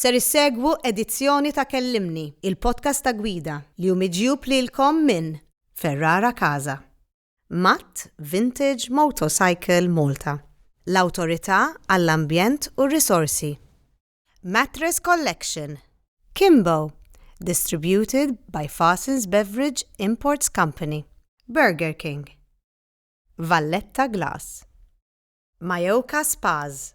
Ser issegwu edizzjoni ta' Kellimni, il-podcast ta' gwida li hu miġjub lilkom minn Ferrara Casa, Matt Vintage Motorcycle Malta, l-Awtorità għall-Ambjent u r-Risorsi, Mattress Collection, Kimbo, distributed by Fassins Beverage Imports Company, Burger King. Valletta Glass. Majorca Spas.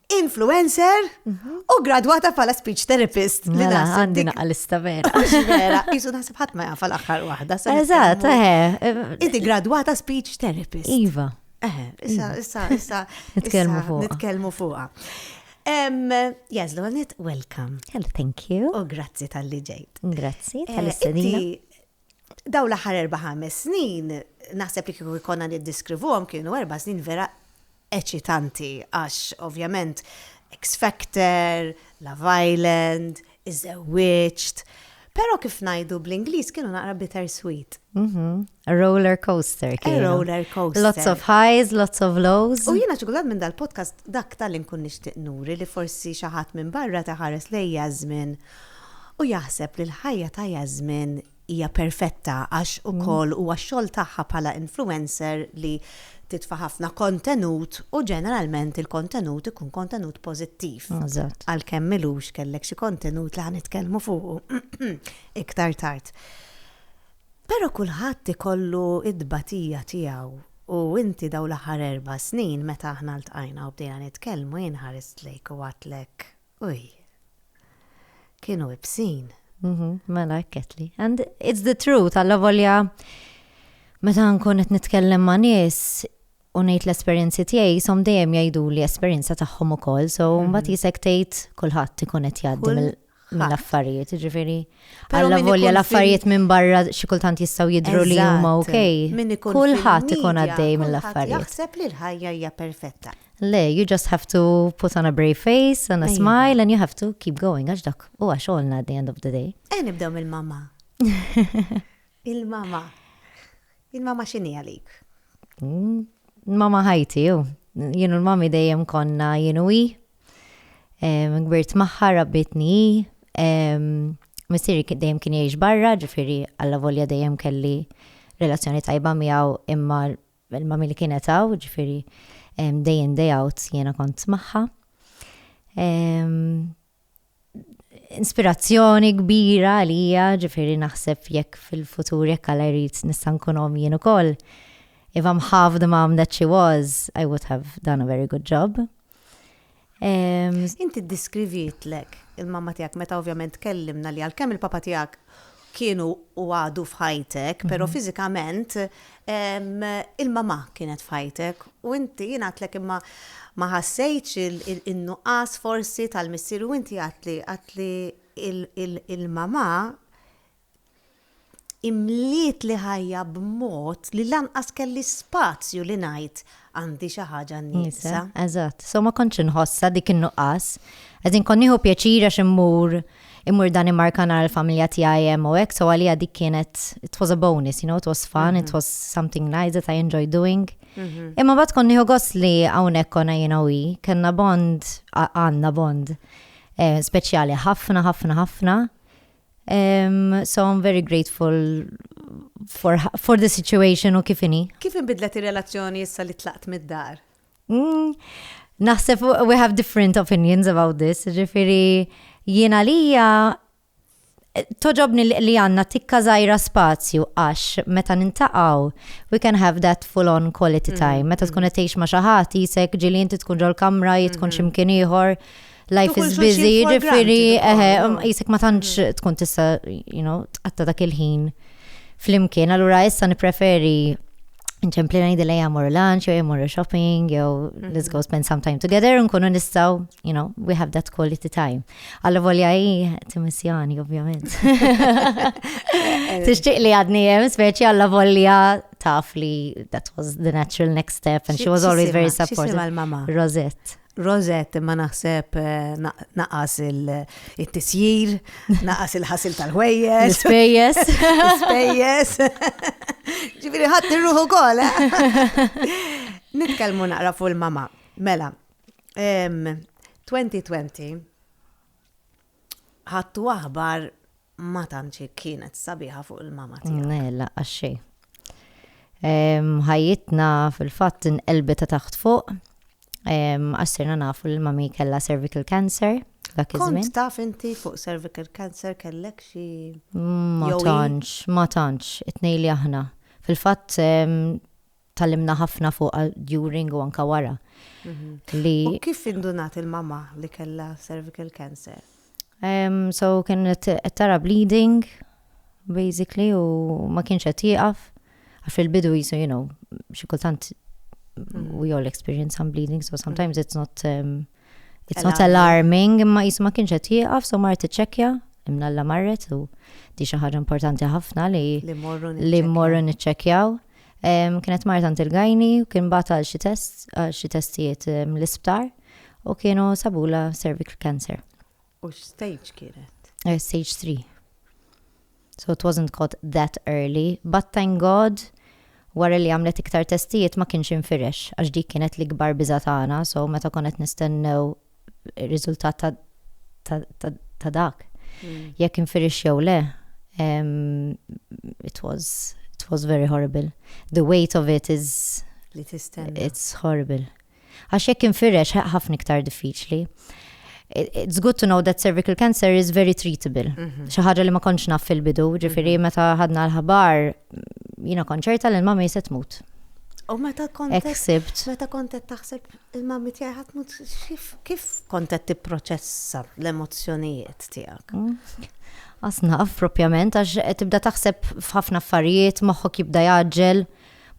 influencer u gradwata bħala speech therapist. Li mela, naħseb għandi naqqa lista vera. Vera, jisu naħseb ħadd ma jafa l-aħħar waħda. Eżatt, eh. Inti gradwata speech therapist. Iva. Eh, issa, issa, issa. Nitkellmu fuq. Nitkellmu fuqa. Um, yes, Lonet, welcome. Hello, thank you. U grazzi tal-li ġejt. Grazzi eh, tal-istedina. Daw l-ħar erba' ħames snin, naħseb li kieku jkollna niddeskrivuhom kienu erba' snin vera eċitanti għax ovvjament X Factor, Love Island, Iżżewwiġt, però kif ngħidu bl-Ingliż kienu naqra bitter sweet. Roller coaster kienu. Roller coaster. Lots of highs, lots of lows. U jiena ċokolat minn dal-podcast dak tal inkun nixtieq nuri li forsi xi ħadd minn barra taħares lejja żmien u jaħseb li l-ħajja ta' Jasmin hija perfetta għax ukoll huwa x-xogħol tagħha bħala influencer li titfa' ħafna kontenut u ġeneralment il-kontenut ikun kontenut pożittiv. Eżatt. Għalkemm milux kellek xi kontenut li ħanitkellmu fuqu iktar tard. Però kulħadd ikollu t-tbatija tiegħu u inti dawn l-aħħar erba' snin meta aħna ltqajna u bdejna nitkellmu jien ħarist lejk u għadtlek Uj. Kienu ibsin. Mhm, mela ekketli. And it's the truth, għalla volja meta nkun qed nitkellem ma' nies u ngħid l-esperjenzi tiegħi som dejjem jgħidu li esperjenza tagħhom ukoll, so mhm. mbagħad jisek tgħid kulħadd ikun qed jgħaddi mill-affarijiet, ġifieri. Alla volja l-affarijiet minn barra xi kultant jistgħu jidhru li huma okej. Kulħadd ikun għaddej mill-affarijiet. Jaħseb li l-ħajja hija perfetta. Le, you just have to put on a brave face and a Iva. smile and you have to keep going għax dak u għax għolna at the end of the day. Eh, nibdew mill-mama. Il-mama. Il-mama xini għalik? Mm, Mama ħajti, ju. Jienu l-mami dejjem konna jienu i. Em, Gbirt maħħa, rabbitni i. Em, Missiri ki- dejjem kien jgħix barra, ġifiri għalla volja dejjem kelli relazzjoni tajba miegħu imma L-ilma milli kienet hawn, ġifieri day in day out jiena kont magħha. Inspirazzjoni kbira għalija, ġifieri naħseb jekk fil-futur jekk Alla jrid nista' nkun omm jien ukoll. If I'm half the mom that she was, I would have done a very good job. Inti ddiskrivietlek il-mamma tiegħek meta ovvjament tkellimna li għalkemm il-papa tiegħek kienu u għadu f'ħajtek, però mhm. fiżikament il-mamà kienet f'ħajtek u inti jien għatlek imma ma ħassejtx il-nuqqas forsi tal-missier u inti għatli għatli il-mamà Imlietli ħajja b'mod li lanqas kelli spazju li ngħid għandi xi ħaġa nieqsa. Eżatt, so ma kontx inħossha dik in-nuqqas. As in kont nieħu pjaċir għax immur immur Danimarka nara l-familja tiegħi hemm u hekk, so għalija dik kienet it was a bonus, you know, it was fun, it was something nice that I enjoy doing. Imma bad kont nieħu gost li hawnhekk konna jiena u hi, kellna bond, għandna bond speċjali ħafna, ħafna, ħafna. Um, so I'm very grateful for, for the situation u kifini. Kif inbidlet ir-relazzjoni issa li tlaqt mid-dar? Mm, naħseb we have different opinions about this, ġifiri jiena lija toġobni li għanna tikka zaħira spazju għax meta nintaqaw we can have that full on quality mm-hmm. time meta tkun qed tgħix ma' xi ħadd jisek ġili inti tkun ġol kamra jitkun mm-hmm. ximkien ieħor life is busy, ġifiri, jisek ma tantx mm. tkun tista, you know, tqatta dak il-ħin fl-imkien, allura issa nipreferi nċempli najdi li jamur lunch, jew jamur shopping, jew mm-hmm. let's go spend some time together, nkunu nistaw, you know, we have that quality time. Alla volja i timissjoni, ovvjament. Tixtieq li għadni jem, speċi alla volja taf li that was the natural next step and she was always very supportive. Rosette. Rosette imma naħseb naqas il-tisjir, naqas il-ħasil tal-ħwejjes. Spejjes. Spejjes. Ġifiri ħadd irruħu kol. Nitkellmu naqra fuq il-mama. Mela, 2020 Ħadtu aħbar ma tantx kienet sabiħa fuq il-mama tiegħek. Mela, għax xejn. Ehm, ħajjitna fil-fatt inqelbet ta' taħt fuq. Ehm, għax sirna nafu li mami kellha cervical cancer. dak iż-żmien. Kont taf inti fuq cervical cancer kellek xi Ma jew hi? tantx, ma tantx, itnej li aħna. Fil-fatt, em, Tallimna ħafna fuq during u anka wara. Mhm. Li... U kif indunat il-mama li kella cervical cancer? Um, so kienet qed tara bleeding, basically, u ma kienx qed jieqaf. Għax fil-bidu jisu, you know, xi kultant mm. we all experience some bleeding, so sometimes it's not um, it's not alarming, imma jisu ma kienx qed jieqaf, so mar tiċċekkja imna l marret u di xi ħaġa importanti ħafna li li morru niċċekkjaw. Kienet mar tant il-gajni u kien bagħat għal xi test, għal xi testijiet l-isptar u kienu sabula cervical cancer. U x-stage kienet? Eh, stage 3. So it wasn't caught that early, but thank God wara li għamlet iktar testijiet ma kienx infirex, għax dik kienet l-ikbar biża tagħna, so meta konet nistennew ir-riżultat ta' dak. Mm. Jekk infirix jew le, it was it was very horrible. The weight of it is li tistenna. It's horrible. Għax jekk infirex ħafna iktar diffiċli. It's good to know that cervical cancer is very treatable. Mhm. Xi ħaġa li ma kontx naf fil-bidu, ġifieri mhm. meta ħadna l-ħabar jiena konċerta li l-mama jiset mut. U meta kontet. Meta kontet taħseb Il-mammi tiegħi ħadd mhu kif kont qed tipproċessa l-emozzjonijiet tiegħek? Qas mm. naf propjament għax qed tibda taħseb f'ħafna affarijiet, moħħok jibda jaġġel,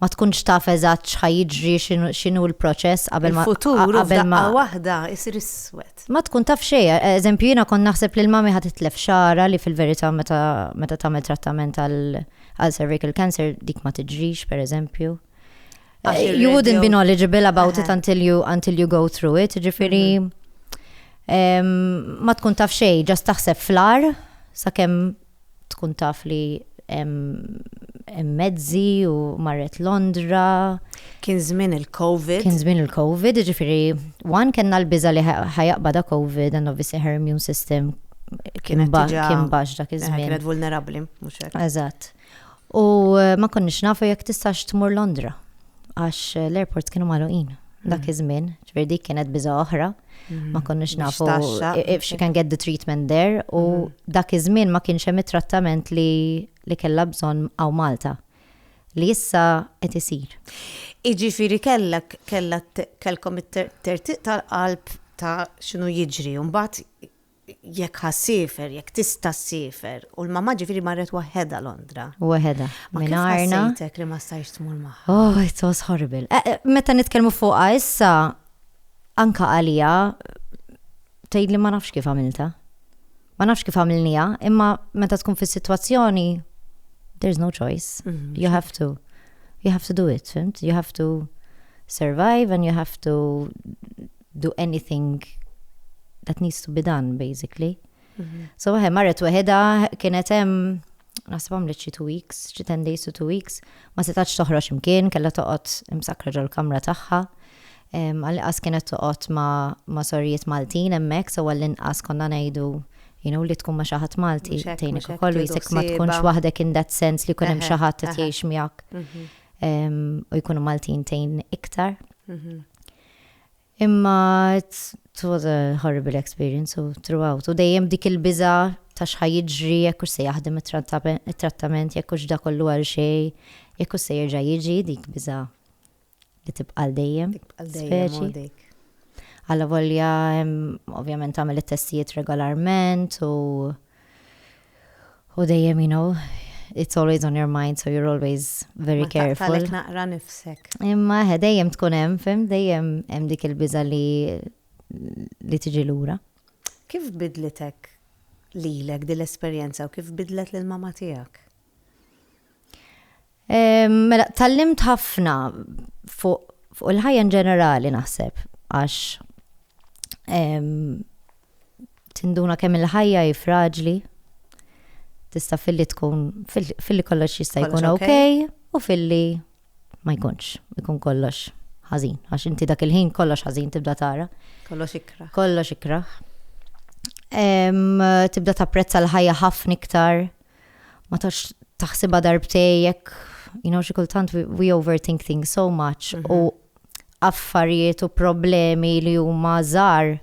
ma tkunx taf eżatt x'ħajġri x'inhu l-proċess qabel ma futur qabel ma waħda isir iswed. Ma tkun taf xejn, eżempju jiena kont naħseb li l-mami ħad titlef xara li fil-verità meta meta tagħmel trattament għal cervical cancer dik ma tiġrix pereżempju. Eh, you wouldn't be knowledgeable about it until you until you go through it. Ġifiri, mm-hmm. ma tkun taf xej, ġast taħseb flar, sakemm tkun taf li mezzi u marret Londra. Kien żmien il-COVID. Kien żmien il-COVID, ġifiri, one kena l-biza li ħajaqba da COVID, and obviously her immune system kien bax dak iż-żmien. Kienet vulnerabli, mhux hekk. Eżatt. U ma konniex nafu jekk tistax tmur Londra għax l-airports kienu magħluqin dak iż-żmien, ġifier dik kienet biża' oħra, ma konniex nafu if she can get the treatment there u dak iż-żmien ma kienx hemm it-trattament li li kellha bżonn hawn Malta li issa qed isir. Jiġifieri kellek kellha kellkom it-tertiq tal-qalb ta' x'inhu jiġri u mbagħad jekk ħa ssiefer, jekk tista' ssiefer, u l-mamma ġifieri marret waħedha Londra. Waħedha. Minn arna. Sejtek li ma stajx tmur magħha. Oh, it was horrible. Eh, eh, meta nitkellmu fuqha issa, anka għalija, tgħid li ma nafx kif għamilta. Ma nafx kif għamilnija, imma meta tkun fis-sitwazzjoni, there's no choice. Mhm. You have to. You have to do it, fimt? You have to survive and you have to do anything that needs to be done, basically. Mhm. So waħe marret weħeda kienet hemm naħseb għamlet xi two weeks, xi ten days to two weeks, ma setax toħroġ imkien, kellha toqgħod imsakra ġol-kamra tagħha. Għal-inqas kienet toqgħod ma' sorrijiet Maltin hemmhekk, so għall-inqas konna ngħidu you know, li tkun ma xaħat Malti, tejni kollu jisek ma tkunx waħdek in that sense li kunem xaħat t-tiex miak mhm. u jkunu Maltin tejn iktar. Mhm. Imma it was a horrible experience u throughout u dejjem dik il-biża' ta' x'ħa jiġri, jekk hux se jaħdem it-trattament, jekk hux da kollu għal xejn, jekk hux se jerġa' jiġi, dik biża' li tibqa' għal dejjem. Speċi. Allavolja ovvjament tagħmel it-testijiet regolarment u U dejjem, you know, it's always on your mind, so you're always very careful. Ma naqra nifsek. Imma eh, dejjem tkun hemm, fim, dejjem hemm dik il-biża li li tiġi lura. Kif bidlitek lilek din l-esperjenza u kif bidlet lil mama tiegħek? Mela, tallimt ħafna fuq fuq il-ħajja ġenerali naħseb, għax tinduna kemm il-ħajja hi fraġli, tista' filli tkun filli kollox jista' jkun ok u filli ma jkunx, ikun kollox ħażin, għax inti dak il-ħin kollox ħażin tibda tara. Kollox ikra. Kollox ikra. Tibda tapprezza l-ħajja ħafna iktar. ma tax taħsibha darbtej jekk you know xi kultant we, we overthink things so much mm -hmm. u affarijiet u problemi li huma żgħar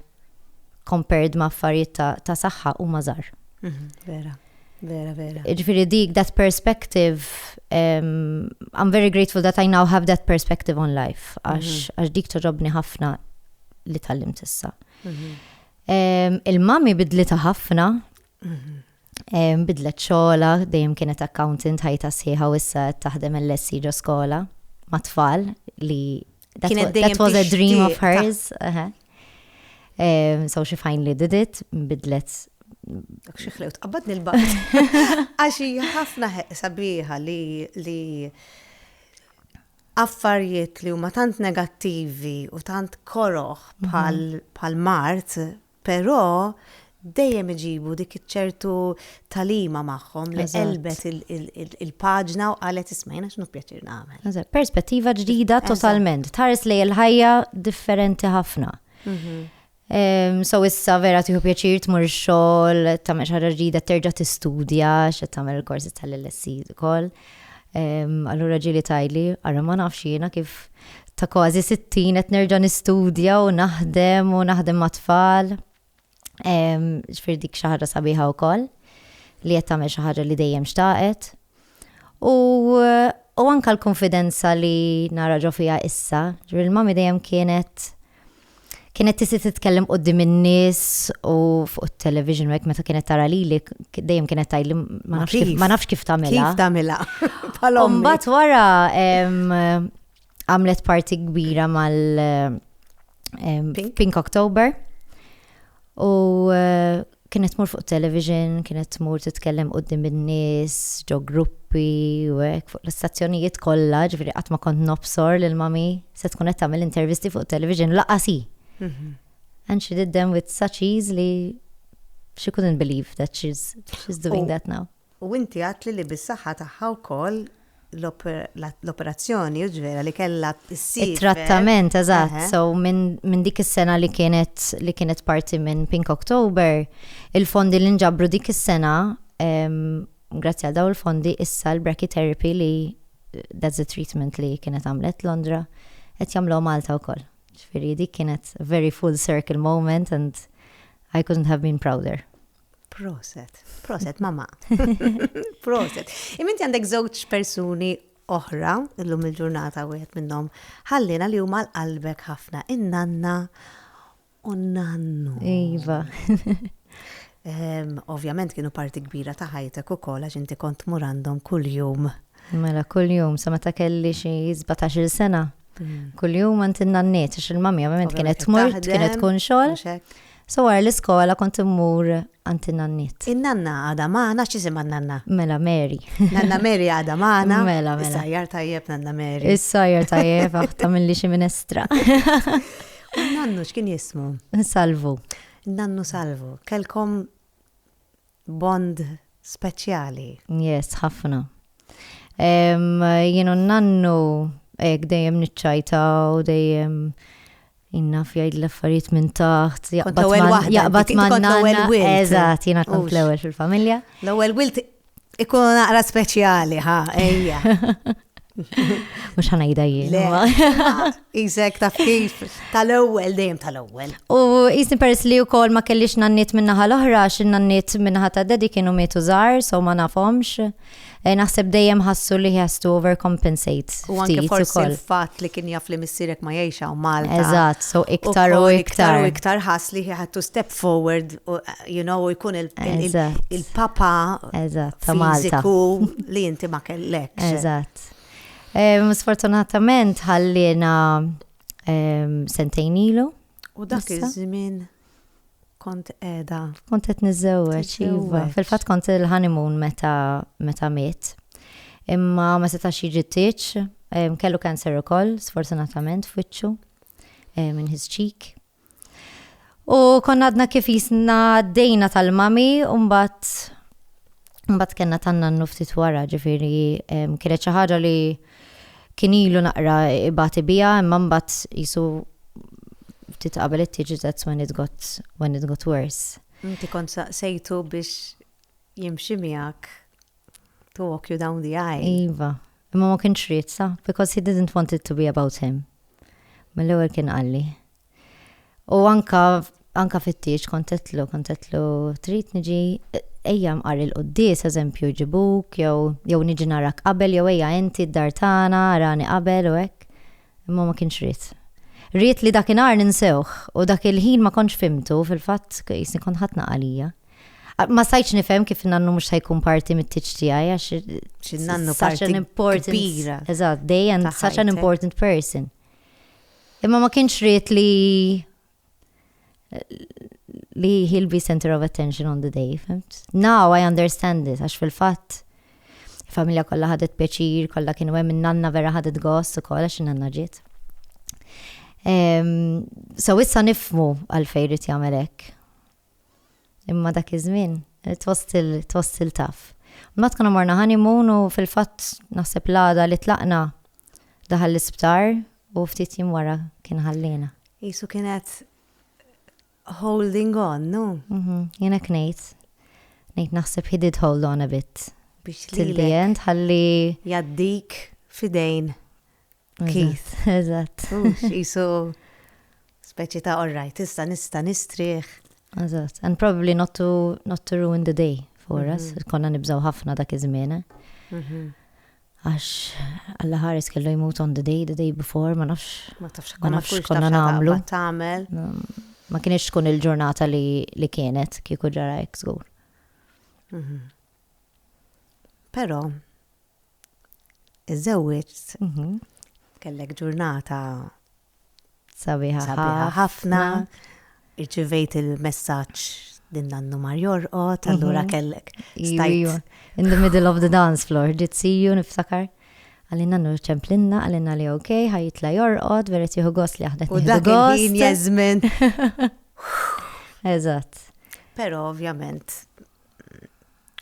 compared ma' affarijiet ta', ta saħħa huma żgħar. Mm -hmm. Vera. Vera, vera. Ġifiri dik, that perspective, um, I'm very grateful that I now have that perspective on life, għax mm -hmm. dik toġobni ħafna li tal-lim tissa. Mm -hmm. um, Il-mami bidlita ħafna, Bidlet xogħla, dejjem kienet accountant ħajta sħiħa u issa qed taħdem il-lessi ġo skola ma' tfal li kienet dejjem was a dream of hers. So she finally did it, bidlet dak xi ħlewt qabad nil-baqt. Għax ħafna sabiħa li li affarijiet li huma tant negattivi u tant koroħ mhm. bħal mart Però dejjem iġibu dik iċ-ċertu talima magħhom li qelbet il-paġna u qalet ismajna x'nu pjaċir nagħmel. Perspettiva ġdida totalment, tħares lej il-ħajja differenti ħafna. Mhm. So issa vera tiħu pjaċir tmur xogħol, tagħmel xi ġdida terġa' tistudja, x'qed tagħmel il-korsi tal-LSC ukoll. Allura ġieli tajli, ara ma nafx jiena kif ta' kważi 60 qed nerġa' nistudja u naħdem u naħdem ma' tfal. Ġifier dik xi ħaġa sabiħa wkoll li qed tagħmel xi ħaġa li dejjem xtaqet. U u anka l-konfidenza li nara ġo fija issa, ġifier il-mami dejjem kienet kienet tisi titkellem qoddim in-nies u fuq it-television hekk meta kienet tara lili dejjem kienet tgħidli ma nafx kif ma nafx kif tagħmilha. Kif tagħmilha? Bħalhom. Mbagħad wara għamlet parti kbira mal Pink October. U eh, Kienet tmur fuq television, kienet tmur titkellem quddiem in-nies, ġo gruppi u hekk fuq l-istazzjonijiet kollha, ġifieri qatt ma kont nobsor lil mami se tkun qed tagħmel intervisti fuq television laqas hi. Mhm. And she did them with such ease li she couldn't believe that she's, she's doing oh. that now. U inti għedtli li bis-saħħa tagħha wkoll l-operazzjoni, jiġifieri li kellha ssir. It-trattament, eżatt. So minn dik is-sena li kienet li kienet parti minn Pink October, il-fondi li nġabru dik is-sena, grazzi għal dawn il-fondi, issa l-brachytherapy li that's the treatment li kienet għamlet Londra, qed jagħmluha Malta wkoll. Ġifieri dik kienet very full circle moment and I couldn't have been prouder. Proset, proset, mama. proset. Iminti għandek żewġ persuni oħra, illum il-ġurnata wieħed minnhom ħallina li huma l-qalbek ħafna, in-nanna u nannu. Iva. Ehm, ovvjament kienu parti kbira ta' ħajtek ukoll għax inti kont mur għandhom kuljum. Mela kuljum sa meta kelli xi 17-il sena. Mm. Kuljum għand in-nanniet għax il-mamja ovvjament kienet tmur, kienet tkun xogħol. So wara l-iskola kont immur għand in-nanniet. In-nanna għada maħna x'isima n-nanna? Mela Mary. Nanna Mary għada maħna. Mela, mela. Is-sajjar tajjeb nanna Mary. Is-sajjar tajjeb aħta mill-li xi minestra. Nannu x'kien jismu? Salvu. Nannu Salvu. Kelkom Bond speċjali. Yes, ħafna. Jien u n-nannu hekk dejjem niċċajtaw, dejjem innaf jgħid l-affarijiet minn taħt, jaqbad ma' nanna. Eżatt, jiena kont l-ewwel fil-familja. L-ewwel wilt ikun naqra speċjali, ha, ejja. Mux ħanajda jien. Izek ta' kif tal-ewel, dejjem tal-ewel. U jisni peress li u kol ma kellix nannit minnaħa l-oħra, xin nannit minnaħa ta' dedi kienu mietu zar, so ma nafomx. Eh, naħseb dejjem ħassu li has to overcompensate. U għanki forsi l-fat li kien jaf li missirek ma jiexaw Malta. Eżat, so iktar u iktar. U iktar ħass li he had to step forward, you know, jkun il-papa fiziku li inti ma kellek. Eżatt. Sfortunatament ħallina sentejn ilu. U dak iż-żmien kont edha. Kont qed niżewweġ, iva. Fil-fatt kont il-honeymoon meta meta miet. Imma ma setax jiġi tiċ, kellu cancer ukoll, sfortunatament f'wiċċu, minn his cheek. U konna għadna kif jisna dejna tal-mami, umbat Mbagħad kellna tanna nuftit wara, ġifieri kienet xi ħaġa li kien ilu naqra ibati biha, imma mbagħad jisu ftit qabel it tiġi that's when it got when it got worse. Inti kont saqsejtu biex jimxi miegħek to walk you down the aisle. Iva, imma ma kienx ried sa, because he didn't want it to be about him. Mill-ewwel kien qalli. U anka anka fit-tieġ kontetlu, kontetlu trid niġi ejja mqar il-quddis, eżempju, ġibuk, jew jew niġi narak qabel, jew ejja inti d-dar tagħna, rani qabel u hekk. Imma ma kienx ried. Ried li dakinhar ninsewh u dak il-ħin ma kontx fimtu fil-fatt jisni kont ħatna għalija. Ma sajċ nifhem kif nannu mhux ħajkun parti mit-tiċ tiegħi għax x'nannu such an important kbira. Eżatt, dejjem such an important person. Imma ma kienx ried li li he'll be center of attention on the day, fimt? Now I understand it, għax fil-fatt familja kollha ħadet pjaċir, kollha kienu hemm in-nanna vera ħadet gost ukoll għax in-nanna ġiet. Ehm, so issa nifmu għalfejn rid jagħmel hekk. Imma dak iż-żmien tħoss il taf. Mbagħad konna morna honeymoon u fil-fatt naħseb l-għada li tlaqna daħal l-isptar u ftit jiem wara kien ħalliena. Isu kienet holding on, no? Mhm, jiena knejt. Nejt naħseb he did hold on a bit. Biex li. Til ħalli. Jaddik fidejn. Keith, eżatt. Jisu speċi ta' alright, issa nista nistrieħ. Eżatt, and probably not to, not to ruin the day for us, mhm. konna nibżaw ħafna dak iż-żmien. Eh? Mhm. Għax, għalla ħares kellu jmut on the day, the day before, ma nafx. Ma tafx ma nafx konna namlu. Tamel. Ma kienx tkun il-ġurnata li kienet kieku ġara eksgur. Mhm. Però iżżewwiġt mhm. kellek ġurnata sabiħa ħafna, irċivejt il-messaġġ din nannu mar jorqot, mhm. allura kellek. In the middle of the dance floor, did see you niftakar. Għalina nur ċemplinna, għalina li ok, ħajitla jorqot, veret juhu gos li għahdet. U dak il-ħin jazmin. Eżat. Pero ovvjament,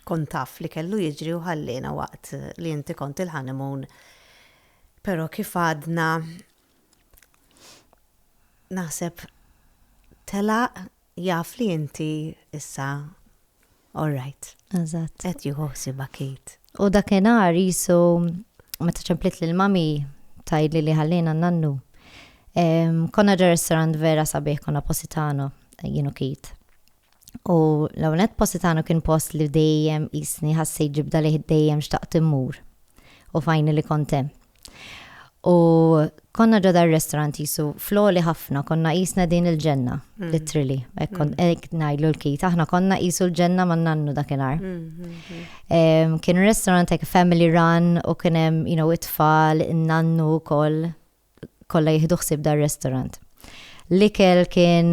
kont taf li kellu jiġri u ħalliena waqt li inti kont il-ħanimun. Pero kif għadna naħseb tela jaf li inti issa all right. Eżatt. Qed jieħu ħsiba kit. U dakinhar jisu meta ċemplit lil mami tajli li ħallina nannu. Konna ġer restaurant vera sabiħ konna Positano, jienu kit. U l-ewwel nett Positano kien post li dejjem qisni ħassejt ġibda lejh dejjem xtaqt immur. U fajni li kont hemm. U konna ġodha r-restaurant jisu floli ħafna, konna jisna din il-ġenna, mm. literally. Ek mm. ngħidlu l-kit, aħna konna jisu l-ġenna man nannu dakinhar. Mm, kien restaurant ek family run u kien hemm, you know, it-tfal, nannu wkoll. kollha jieħdu ħsieb dar-restaurant. L-ikel kien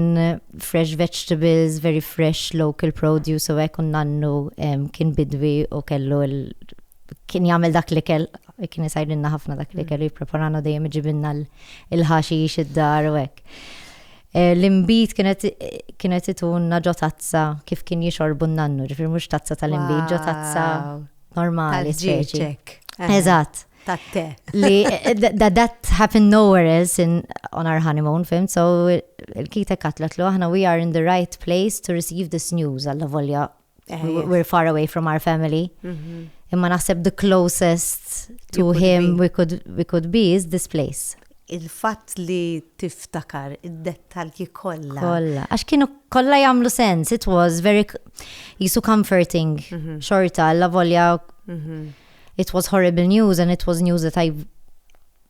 fresh vegetables, very fresh local produce u hekk u nannu kien bidwi u kellu kien jagħmel dak l-ikel kien isajrinna ħafna dak l-ikel u jippreparana dejjem iġibinna l-ħaxi id-dar u hekk. Eh, l-imbit kienet itunna ġo tazza kif kien jixorbu n-nannu, ġifir mux tazza tal-imbit, ġo tazza normali. Eżatt. tat-te. Li that happened nowhere else in on our honeymoon, fim, so il-kita katlet lu aħna we are in the right place to receive this news għalla volja eh, we're far away from our family. Mhm. Imma naħseb the closest to him we could, we could be is this place. Il-fatt li tiftakar id-dettalji kollha. Kollha, għax kienu kollha jagħmlu sens, it was very jisu comforting mhm. xorta, la volja mhm. it was horrible news and it was news that I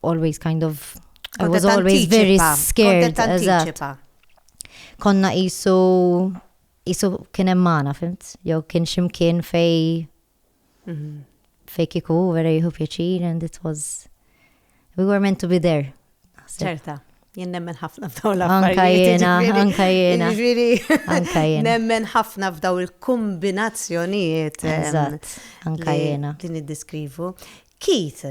always kind of I was always very scared. Konna jisu jisu kien emmana, fimt? Jew kien ximkien fej mhm. fej kiku vera jihu pjaċir and it was We were meant to be there. Ċerta. Jien nemmen ħafna f'daw l-affarijiet. Anka jena, anka jena. Nemmen ħafna f'daw il-kombinazzjonijiet. Eżatt, anka jena. Li niddiskrivu. Keith,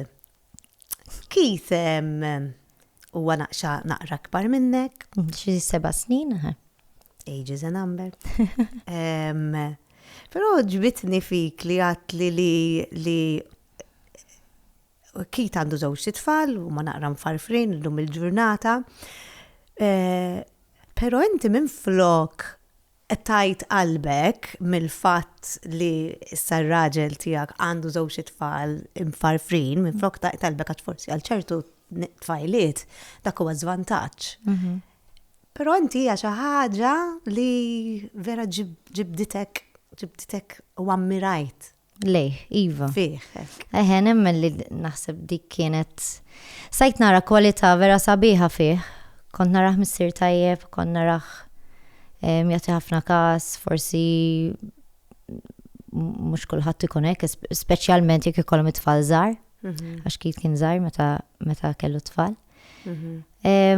Keith, u għanaqxa naqra kbar minnek. Xi seba snin, Age is a number. Pero ġbitni fik li għatli li Keith għandu żewġt itfal, huma naqra mfarfrin illum il-ġurnata. Eh, però inti minn flok tajt qalbek mill-fatt li issa r-raġel tiegħek għandu żewġ itfal mfarfrin, minn flok tajt qalbek għax forsi għal ċertu tfajliet dak huwa żvantaġġ. Mhm. Però inti hija xi ħaġa li vera ġibditek ġibditek u ammirajt Lejh, iva. Fih. Eħe, nemmen li naħseb dik kienet. Sajt nara kwalità vera sabiħa fih. Kont naraħ missier tajjeb, kont naraħ jagħti ħafna każ, forsi mhux kulħadd ikun hekk, speċjalment jekk ikollhom it-tfal żgħar, mhm. għax kif kien żgħar meta kellu tfal. Mhm.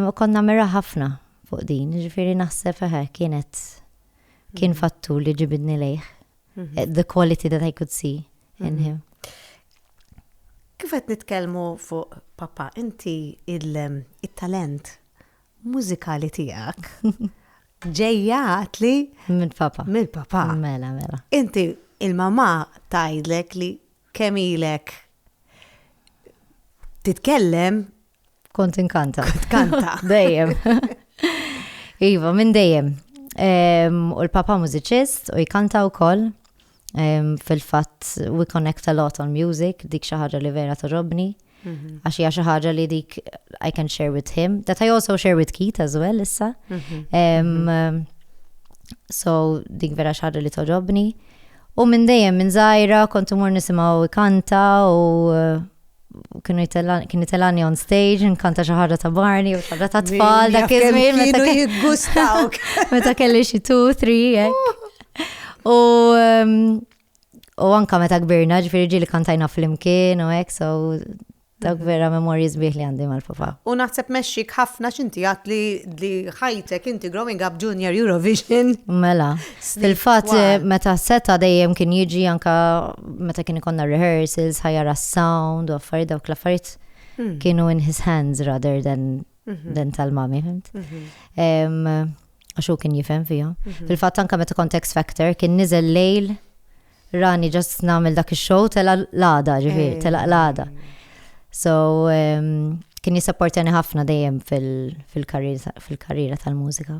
U kont nagħmilha ħafna fuq din, ġifieri naħseb eħe kienet kien mhm. fattur li ġibidni lejh. Eh, the quality that I could see in mhm. him. Kif qed nitkellmu fuq papa, inti il-talent mużikali tiegħek ġejjat li minn papa. Minn papa. Mela, mela. Inti il-mama tajdlek li kemm ilek titkellem Kont inkanta. Kanta. Dejjem. Iva, minn dejjem. U l-papa mużiċist u jkanta u koll. Fil-fat, we connect a lot on music, dik xaħġa li vera torrobni. Mhm. Għax hija xi ħaġa li dik I can share with him. That I also share with Keith as well issa. Mhm. Mhm. So dik vera xaħġa li torrobni. U minn dejjem minn zaħira kontu mur nisimaw kanta u kienu jitellani, kien jitellani on stage, nkanta xaħġa ta' barni u xaħġa ta' tfal, da' kizmin, meta kienu jitgustaw. Meta kelli xie 2, 3, jek. U um, u anka meta kbirna, ġifiri ġili kantajna fl-imkien u jek, so dak mhm. vera memorji zbieħ li għandi mal-papa. U naħseb meċċik ħafna xinti għat li ħajtek inti growing up junior Eurovision. Mela. Fil-fatt meta seta dejjem kien jiġi anka meta kien ikonna rehearsals, ħajjar sound u affarijiet dawk l-affarijiet hmm. kienu in his hands rather than mhm. than tal-mami, fimt? Mhm. Għax hu kien jifhem fija. Mhm. Fil-fatt anka meta kontext factor kien niżel lejl rani ġast nagħmel dak ix-show tela l-għada, ġifieri, eh. tela l-għada. So kien jisapportani ħafna dejjem fil-karriera tal-mużika.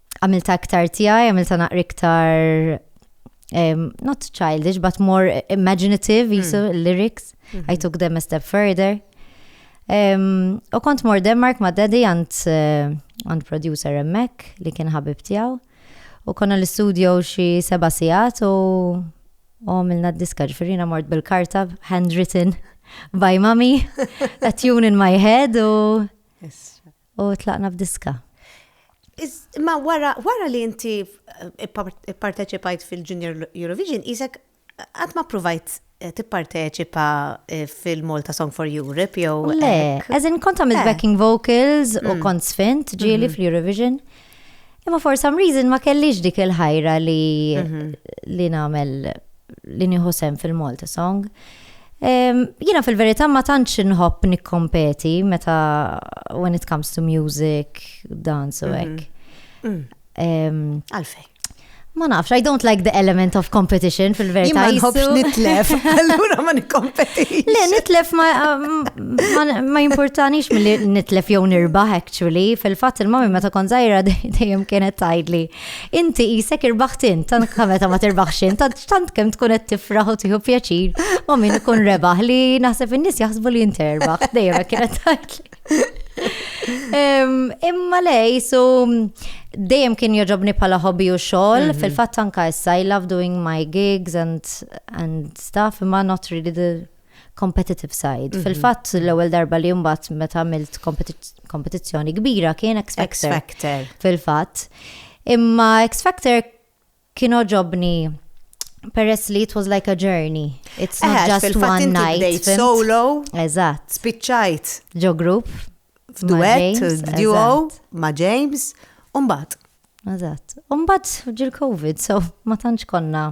għamilta iktar tiegħi, għamilta naqri iktar um, not childish, but more imaginative, mm. jisu lyrics. Mm -hmm. I took them a step further. Um, u kont mor Denmark ma' daddy għand uh, għand producer emmek li kien ħabib tiegħu. U konna l-studio xi seba sigħat u għamilna d-diska ġifirina mort bil-karta handwritten by mommy, a tune in my head u u tlaqna f'diska. Ma wara, wara li inti ipparteċipajt fil-Junior Eurovision, isek għad ma provajt eh, tipparteċipa eh, fil-Malta Song for Europe jew. Le, as in kont għamilt eh. backing vocals u mm. kont sfint ġieli mm-hmm. fil-Eurovision, Imma for some reason ma kellix dik il-ħajra li mhm. li nagħmel li nieħu sem fil-Malta Song. Jina fil-verità ma tantx inħobb nikkompeti meta when it comes to music, dance u mhm. hekk. Mm. Għalfej. Ma nafx, I don't like the element of competition fil-verita. Ma nħobx nitlef, allura ma nikkompetix. Le, nitlef ma um, importanix mill-li nitlef jew nirbaħ, actually. Fil-fat il-mami meta kon zaħira dejjem kienet tajdli. Inti jisek irbaħtin, tant kameta ma tirbaħxin, tant kem tkun qed tifraħ u tiħu pjaċir, u min ikun rebaħ li naħseb in-nies jaħsbu li inti erbaħ, dejjem kienet tajdli. Imma lej, so dejjem kien joġobni pala hobby u xogħol, mhm. fil-fatt anka issa I love doing my gigs and and stuff, imma not really the competitive side. Mhm. Fil-fatt l-ewwel darba li mbagħad meta għamilt kompetizzjoni kbira kien X Factor. Fil-fatt. Imma X Factor Kien għoġobni peress li it was like a journey. It's not Eħe, just fil-fatt one inti night. bdejt fimt? solo, Eżatt. spiċċajt Ġo group. ma' f'duett, James, f'duo, eżatt, ma' James, u mbagħad. Eżatt. Umbat ġil-Covid, so ma tantx konna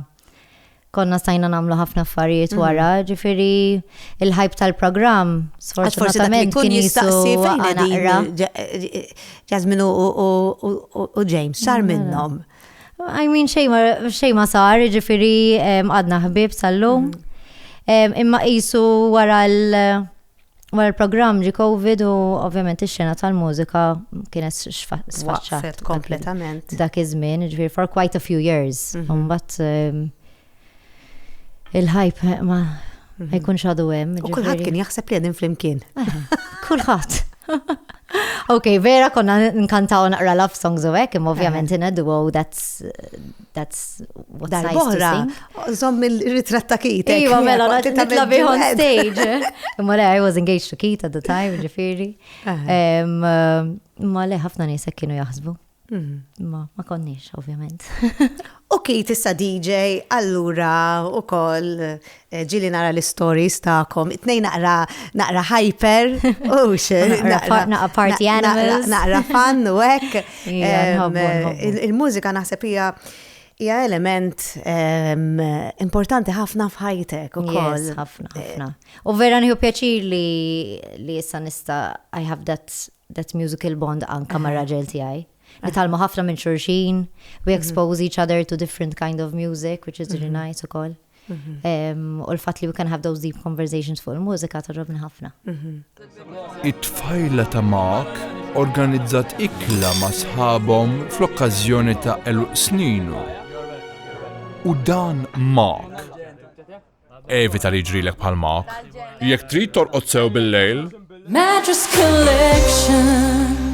konna stajna namlu ħafna affarijiet mhm. wara, ġifiri il-ħajb tal-program, sfortunatament kien jistaqsi fejn għanaqra. Jasmine u James, sar mela. minnom. I mean, xej ma sar, ġifiri għadna ħbib sal-lum. Mhm. Imma jisu wara l- Wara l-programm ġi Covid u ovvjament ix-xena tal-mużika kienet sfaċċat kompletament dak iż-żmien, ġifier for quite a few years. Mhm. Mbagħad ehm, il-hype ma mhm. jkunx għadu hemm. U kulħadd kien jaħseb li qegħdin flimkien. Eh, kulħadd. Ok, vera konna nkantaw naqra love songs u hekk, imma ovvjament ineddu, oh, that's That's what size to sing. Zom il-ritrat ta' Kit. Iwa, mela, nitla bih on stage. Imma le, I was engaged to Kit at the time, ġifiri. Ma le, ħafna nisek kienu jaħsbu. Mhm. Ma, ma konniex, ovvjament. U Kit issa DJ, allura u koll Ġieli nara l-istories tagħkom. It-tnejn naqra naqra hyper, hux. Naqra party animals. Naqra fan u hekk. Il-mużika naħseb hija hija element importanti ħafna f'ħajtek ukoll. Ħafna, ħafna. U vera nieħu pjaċir li li issa nista' I have that that musical bond anka ma' raġel tiegħi. Nitalmu ħafna minn xurxin, we expose each other to different kind of music, which is really nice ukoll. Mhm. U l-fat li we can have those deep conversations fuq il-mużika torrobni ħafna. Mhm. It-tfajla ta' Mark organizzat ikla ma' sħabhom fl-okkażjoni ta' eluq sninu. U dan Mark. Evita li ġrilek bħal Mark. Jekk trid torqod sew bil-lejl. Mattress collection.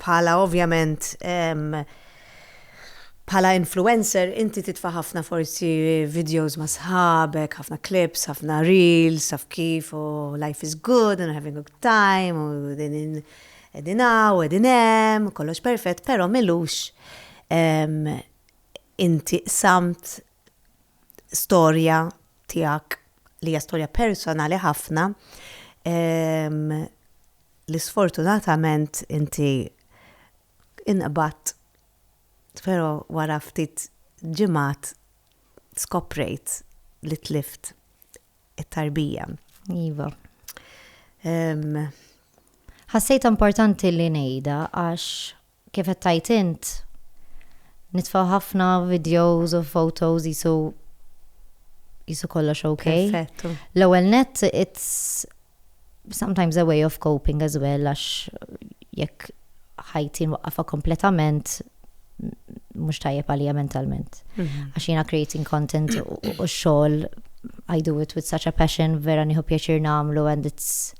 Bħala ovvjament bħala influencer inti titfa' ħafna forsi videos ma' sħabek, ħafna clips, ħafna reels, taf kif, u life is good and having a good time, u qegħdin hawn, qegħdin hemm, kollox perfett, però m'ilux inti qsamt storja tiegħek li hija storja personali ħafna ehm, li sfortunatament inti inqbat però wara ftit ġimgħat skoprejt li tlift it-tarbija. Iva. Ehm, Ħassejt importanti li ngħidha għax Kif qed tgħid int, nitfgħu ħafna videos u photos qisu qisu kollox ok. Perfett. L-ewwel nett it's sometimes a way of coping as well għax jekk ħajti nwaqqafha kompletament mhux tajjeb għalija mentalment. Mhm. Għax jiena creating content u xogħol I do it with such a passion, vera nieħu pjaċir nagħmlu and it's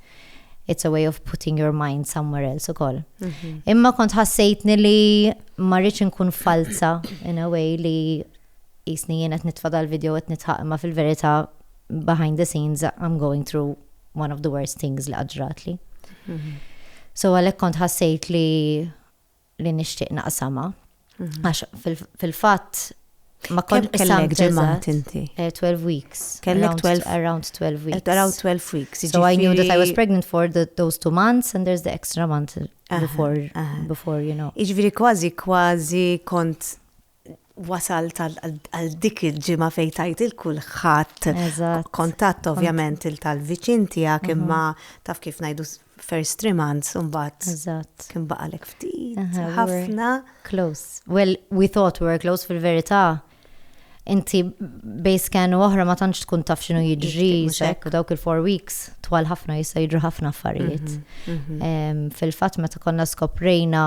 it's a way of putting your mind somewhere else ukoll. Mhm. Imma kont ħassejtni li ma rridx inkun falza in a way li jisni jien qed nitfa' dal-video qed nitħaq imma fil-verità behind the scenes I'm going through one of the worst things li qaġratli. Mhm. So għalhekk kont ħassejt li li nixtieq naqsamha. Għax fil-fatt ma kont kellek ġimgħat inti. 12 eh, weeks. Kellek 12 around 12 weeks. Around 12 weeks. So I knew that I was pregnant for the, those two months and there's the extra month before, uh -huh. before you know. Iġviri kważi kważi kont wasalt għal dik il-ġimgħa fejn tajt il kulħadd kontatt ovvjament il tal-viċin tiegħek imma taf kif ngħidu first three months imbagħad. Eżatt. Kien baqalek ftit. Ħafna. Close. Well, we thought we were close fil-verità. Inti bej scan u oħra ma tantx tkun taf x'inhu jiġri u dawk il-four weeks twal ħafna jista' jiġru ħafna affarijiet. Mhm, mhm. Fil-fatt meta konna skoprejna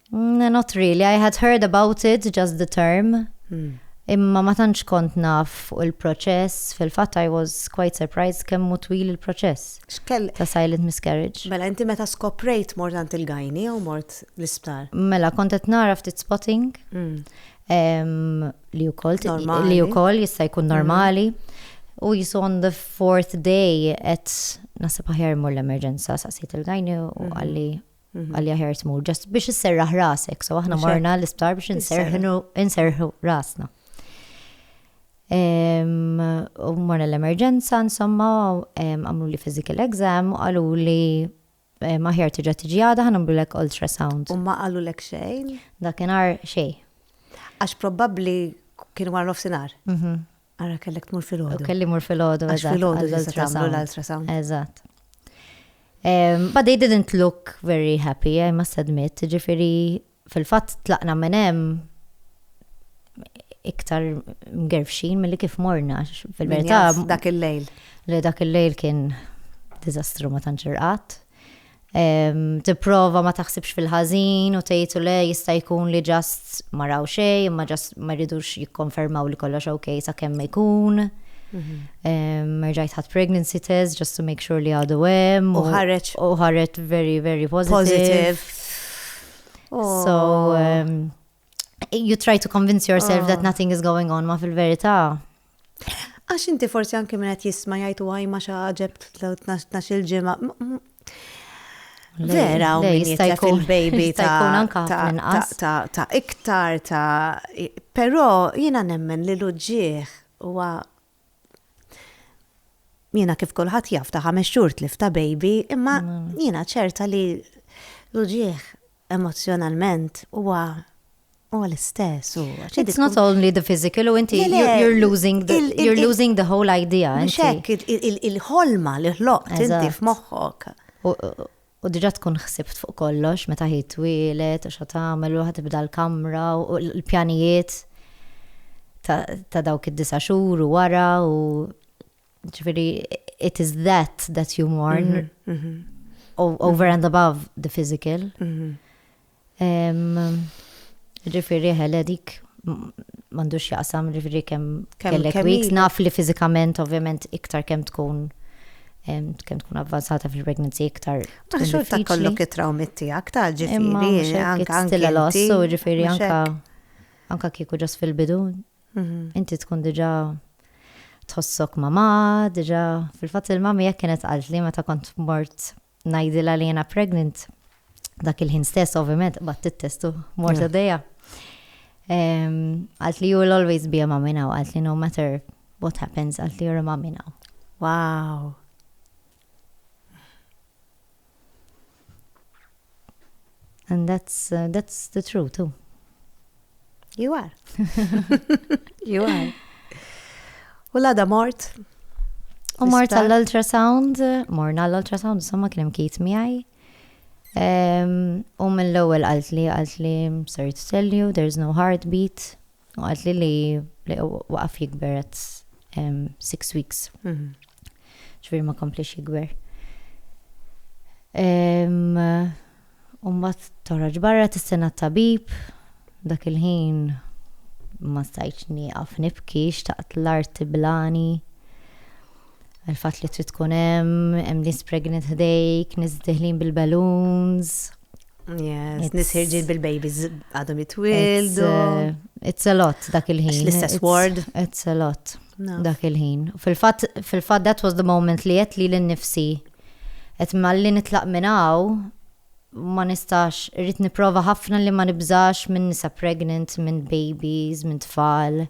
Mm, not really, I had heard about it, just the term. Mm. Imma ma tantx kont naf fuq il-proċess, fil-fatt I was quite surprised kemm mu twil il-proċess. Xkell ta' silent miscarriage. Mela inti meta skoprejt mort għand il-gajni jew mort l-isptar? Mela kont qed nara ftit spotting. Mm. Um, li wkoll li wkoll jista' jkun mm. normali. U jisu on the fourth day qed nasib aħjar mur l-emerġenza saqsejt il-gajni u mm-hmm. għalli Mhm. għalja ħer tmur, ġast biex isserraħ rasek, so aħna morna l-isptar biex inserħu rasna. U morna l-emerġenza, insomma, għamlu li physical exam, u għallu li maħjar tiġa tiġi għada ħan għamlu l-ek ultrasound. U ma għallu l-ek xejn? Dakinar xej. Għax probabli kienu għarrof sinar. Mhm. Ara kellek tmur fil-ħodu. Kelli mur fil-ħodu, eżatt. Fil-ħodu l-ultrasound. L-ultrasound. Eżatt. Um, but they didn't look very happy, I must admit. Ġifiri, fil-fat tlaqna menem iktar mgerfxin mill-li kif morna. Fil-verità. Dak il-lejl. Li dak il-lejl kien dizastru ma tanċirqat. tipprova ma taħsibx fil-ħażin u tgħid le jista' jkun li ġast ma raw xejn, imma ġast ma jridux jikkonfermaw li kollox ok sa kemm ikun. Mhm. Merġajt ħadd pregnancy test just to make sure li għadu hemm. U ħareġ. U ħareġ very, very positive. Positive. So, oh. you try to convince yourself that ah. nothing is going on ma fil-verità. Għax inti forsi anke minn qed jisma' jgħidu għaj ma xi ħaġeb tnax il-ġimgħa. Vera, u jista' jkun baby ta' iktar ta' però jiena nemmen li l-uġġieħ huwa Jiena kif kulħadd jaf ta' ħames xhur tlif ta' baby, imma mm. jiena ċerta li l-uġieħ emozjonalment huwa U l-istess, u It's not only the physical, u inti you're losing the, you're losing the whole idea. Xek, il-ħolma li ħloqt inti f'moħħok. u diġà tkun ħsibt fuq kollox meta hi twieled u x'ha tagħmel u ħa tibda l-kamra u l-pjanijiet ta' dawk id-disa' xhur u wara u ġifieri it is that that you mourn mhm, mhm. over and above the physical. Mhm. Ġifiri ħele dik m'għandux x'jaqsam ġifiri kemm kellek weeks naf li fiżikament ovvjament iktar kemm tkun kemm tkun avvanzata fil-pregnancy iktar. Taħxu ta' kollu kitraw mitti aktar ġifiri. Anka stilla l-ossu ġifiri anka anka kieku ġas fil-bidu. Mhm. Inti tkun diġa tħossok mama, diġa fil-fat il-mami jek kienet għalt li meta kont mort ngħidilha li jiena pregnant. Dak il-ħin stess, ovvjament, bat it-test u mort għaddejja. Għalt li you will always be a mom in now, għalt li no matter what happens, għalt li you're a mom in now. Wow! And that's, uh, that's the truth too. You are. you are. U l-għada mort. U mort għall-ultrasound, morna għall-ultrasound, insomma kien hemm kit miegħi. U mill-ewwel qalt li qalt li sorry to tell you, there's no heartbeat. U għad li li li waqaf jikber għad six weeks. Mhm. Ġviri ma komplix jikber. Umbat toħroġ barra t-sena tabib, dak il-ħin ma stajċ niqaf nibki, xtaqt l-art tiblani. Il-fat li trid tkun hemm, hemm nis pregnant ħdejk, nis diħlin bil-balloons. Yes, nis ħirġin bil-babies għadhom jitwildu. Uh, it's a lot dak il-ħin. L-istess word. It's a lot dak il-ħin. Fil-fat, fil-fat that was the moment li jett li l-nifsi. Et malli nitlaq minnaw, ma nistax, rrit niprofa ħafna li ma nibżax minn nisa pregnant, minn babies, minn tfal.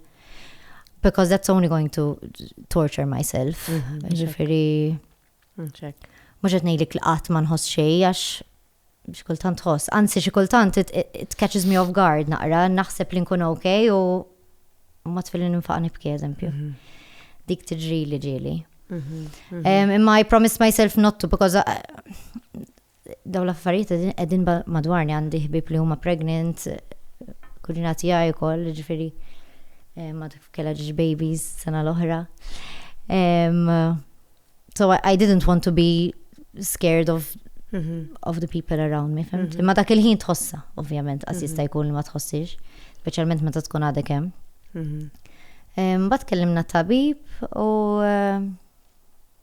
Because that's only going to torture myself. Mhm, Ġifiri. Mm -hmm, Mhux qed ngħidlek li qatt ma nħoss xejn għax xi kultant tħoss, anzi xi kultant it catches me off guard naqra, naħseb li nkun ok u ma tfilli ninfaq nibki eżempju. Mhm. Dik tiġri li ġieli. Mhm, mhm. Imma I promise myself not to because uh, dawn l-affarijiet qegħdin qegħdin ba- madwarni għandi ħbieb li huma pregnant, kuġina tiegħi wkoll, jiġifieri eh, ma tkun kellha ġiex babies sena l-oħra. Em, so I, I didn't want to be scared of Mhm. of the people around me, fimt? Imma dak il-ħin tħossa, ovvjament, għas jista' jkun li ma tħossix, speċjalment meta tkun għadek hemm. Mhm. Em, Bat kellimna tabib u em,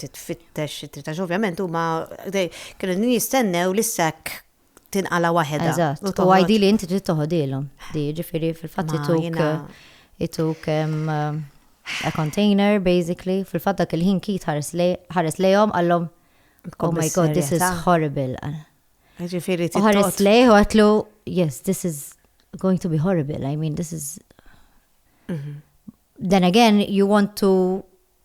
titfittex xi tritax. Ovvjament huma kienu jistennew li sekk tinqala waħedha. Eżatt. U għajdi li inti trid toħodilhom. Di ġifieri fil-fatt ituk ituk a container basically fil-fatt dak il-ħin kit ħares lejhom għallhom Oh my god, this is horrible. Ġifieri trid. Ħares lejh u għatlu, yes, this is going to be horrible. I mean, this is. Mhm. Then again, you want to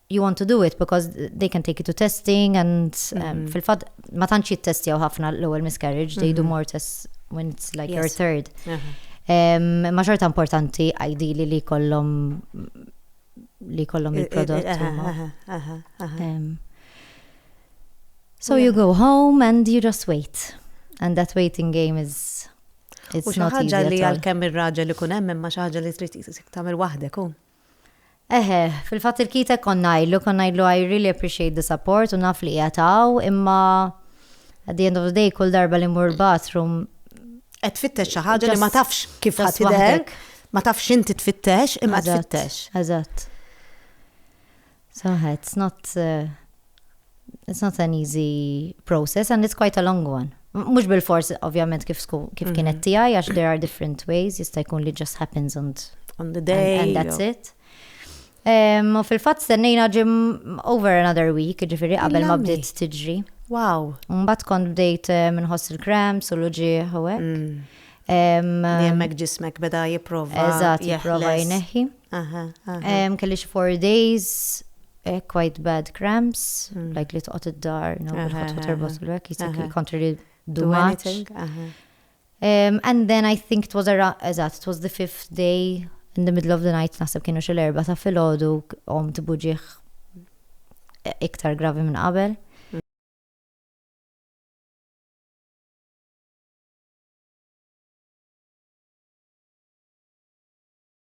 you want to do it because they can take you to testing and um, mm-hmm. fil-fat ma tantx jittestjaw ħafna l-ewwel miscarriage, they do mm-hmm. more tests when it's like your third. Uh-huh. Um, ma xorta importanti ideally li kollom li kollom eh, eh, il-prodott. Eh, um, so you go home and you just wait. And that waiting game is it's not easy. ħaġa li għal-kemm ir-raġel li kunem hemm imma xi ħaġa li trid tagħmel waħdek hu. Eħe, fil-fatt il-Keith hekk kont ngħidlu, kont ngħidlu I really appreciate the support u naf li qiegħed hawn, imma at the end of the day kull darba li mmur bathroom qed tfittex xi ħaġa li ma tafx kif ħadd tidher, ma tafx inti tfittex imma tfittex. Eżatt. Saħħa, it's not it's not an easy process and it's quite a long one. Mhux bil-fors ovvjament kif kif kienet mhm. tiegħi għax there are different ways jista' jkun li just happens on, on the day and, and that's it. U fil-fatt stennejna ġim over another week, ġifiri qabel ma bdiet tiġri. Wow. Mbatt kont bdejt eh, minħoss il-krams u l-uġieħ u hekk. Mm. Jemmek ġismek beda jiprofa. Eżat, jiprofa jneħi. Kelli xi four days, eh, quite bad cramps, mm. like li toqgħod id-dar, no, bil-ħatħu terbot l-wek, jisek jikontri li do much. Um, and then I think it was around, eżat, it was the fifth day, in the middle of the night, naħseb kienu xil erba ta' fil-ħodu, om tibuġiħ e, iktar gravi minn qabel.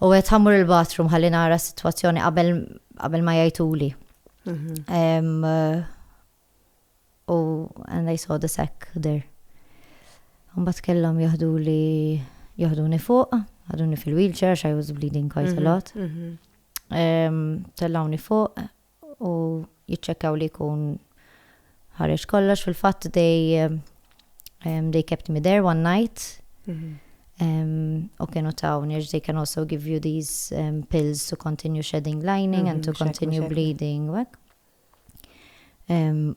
U għedt ħa mmur il-bathroom ħalli nara s-sitwazzjoni qabel qabel ma jgħiduli. Em, eh, U and I saw the sack there. Mbagħad kellhom jaħduli jaħduni fuq, jaħduni fil-wheelchair għax I was bleeding quite a lot. Em, Tellawni fuq, u jiċċekkjaw li jkun ħareġ kollox fil-fatt dej they kept me there one night mhm. Um, u kienu tawni, they can also give you these um, pills to continue shedding lining mm -hmm, and to mhm, continue bleeding. Um,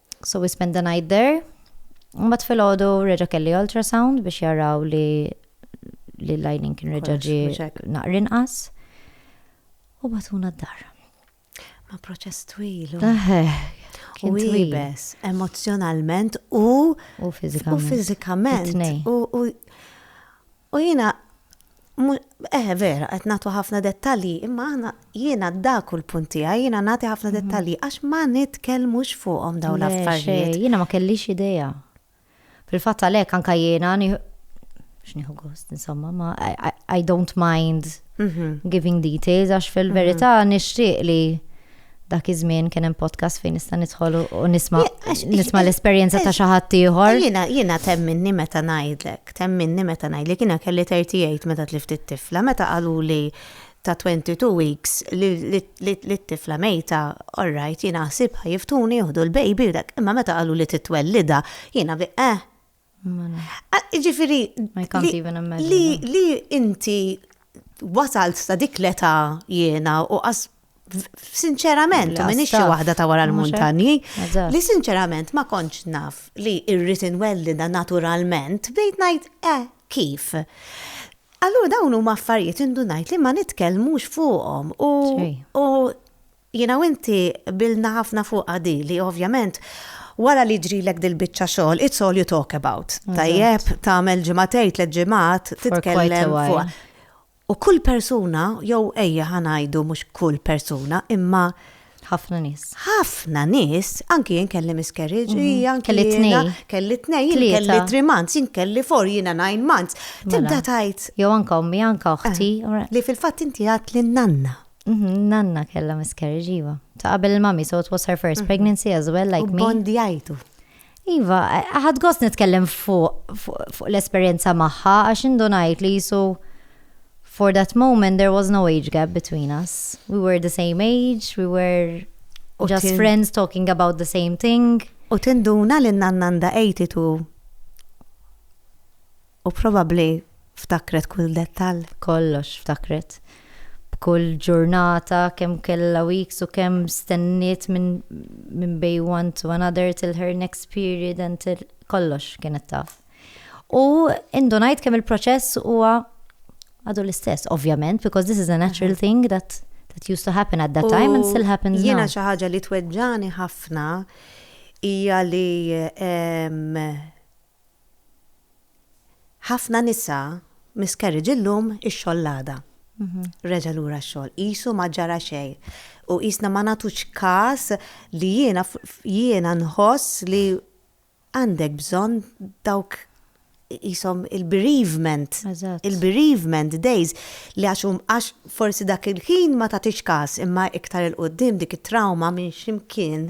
So we spent the night there. Mbagħad filgħodu reġa' kelli ultrasound biex jaraw li li l-lining kien reġa' ġi naqrinqas. U batuna d-dar. Ma proċess twil. U ibes, emozjonalment u u fizikament. U jina Eħe vera, qed nagħtu ħafna dettalji, imma aħna jiena dak hu l-punt tiegħi, jiena nagħti ħafna mhm. dettalji għax ma nitkellmux fuqhom dawn l-affarijiet. Jiena ma kellix idea. Fil-fatt għalhekk anke jiena x'nieħu gost, insomma, ma I, don't mind mhm. giving details għax fil-verità mhm. nixtieq li dak iż-żmien kien hemm podcast fejn nista' nidħol u nisma' nisma' l-esperjenza ta' xi ħadd ieħor. Jiena jiena temminni meta ngħidlek, temminni meta ngħidlek jiena kelli 38 meta tlift it-tifla, meta qaluli ta' 22 weeks li t-tifla mejta, all right, jiena ħsibha jiftuni jieħdu l-baby u dak, imma meta qaluli titwellidha, jiena bi eh! Ah, Ġifiri, I can't li- even imagine. li, li inti wasalt sa dik l-età jiena u qas sinċerament, Li u minix xi għastaf. waħda ta' wara Mhux hekk? l-muntanji, Eżatt. li sinċerament ma kontx naf li irrid inwellida naturalment, bdejt ngħid, eh, kif? Allura dawn huma affarijiet indunajt li ma nitkellmux fuqhom u, Xejn. u Jiena u inti qbilna ħafna fuqha di li ovvjament wara li jġrilek dil-biċċa xogħol it's all you talk about. Tajjeb, tagħmel ġimagħtejn, tliet ġimgħat titkellem fuqha. U kull persuna, jew ejja ħa ngħidu mhux kull persuna, imma ħafna nies. Ħafna nies, anki jien kelli miscarriage, mhm. hija anki kelli tnejn. Kelli tnejn, kelli three months, jien kelli four, jiena nine months. Mela. Tibda tajt. Jew anka ommi, anka oħti. Eh, li fil-fatt inti għat li nanna. Mhm, Nanna kella miscarriage, iva. Ta' qabel il-mami, so it was her first mhm. pregnancy as well, like me. Bondjajtu. Iva, ħad gost nitkellem fuq l-esperienza maħħa, għax indunajt li jisu for that moment there was no age gap between us. We were the same age, we were just friends talking about the same thing. U tinduna li nannanda 82 U probabbli ftakret kull dettall. Kollox ftakret. B'kull ġurnata kemm kellha weeks u kemm stenniet minn min bej one to another till her next period and till kollox kienet taf. U indunajt kemm il-proċess huwa għadu l-istess, ovvjament, because this is a natural mhm. thing that that used to happen at that time and still happens now. Jiena xi ħaġa li tweġġani ħafna hija li Ħafna nisa miscarriage illum ix-xogħol l-għada. Reġa' lura x-xogħol. Qisu ma ġara xejn. U qisna ma nagħtux każ li jiena jiena nħoss li għandek bżonn dawk qishom il-bereavement. Il-bereavement days li għax għax forsi dak il-ħin ma tagħtix każ imma iktar 'il quddiem dik it-trawma minn x'imkien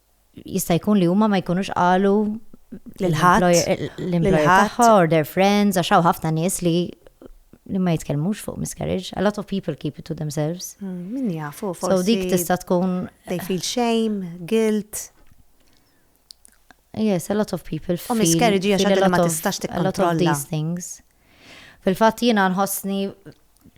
jista' jkun li huma ma jkunux qalu lil ħadd l-employer tagħha or their friends għax hawn ħafna nies li li ma jitkellmux fuq miscarriage. A lot of people keep it to themselves. Hmm, min jafu, forsi. So dik tista' tkun. They feel shame, guilt. Yes, a lot of people feel. U miscarriage hija xi ma tistax tikkontrolla. A lot of these things. Fil-fatt jiena nħossni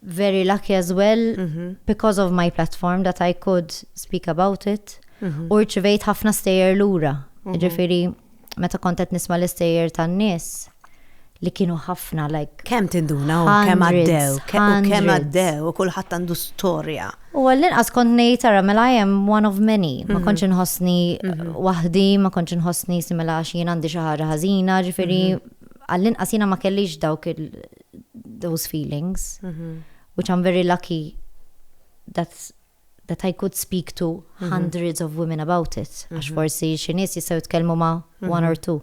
very lucky as well mm -hmm. because of my platform that I could speak about it. Mm -hmm. U rċivejt ħafna stejjer lura. Mm -hmm. Ġifiri, meta kontet nisma l-istejjer tan-nies li kienu ħafna like. Kem tinduna u kem għaddew, kem għaddew, u kullħat għandu storja. U għallin għas kont nejt għara, mela I am one of many. Ma mhm. konċin hosni mhm. wahdi, ma konċin hosni simela għax jien għandi xaħġa ħazina, ġifiri mhm. għall-inqas jiena ma kellix dawk those feelings, mhm. which I'm very lucky that that I could speak to mhm. hundreds of women about it. Għax mhm. forsi xi nies jistgħu jitkellmu ma' one or two.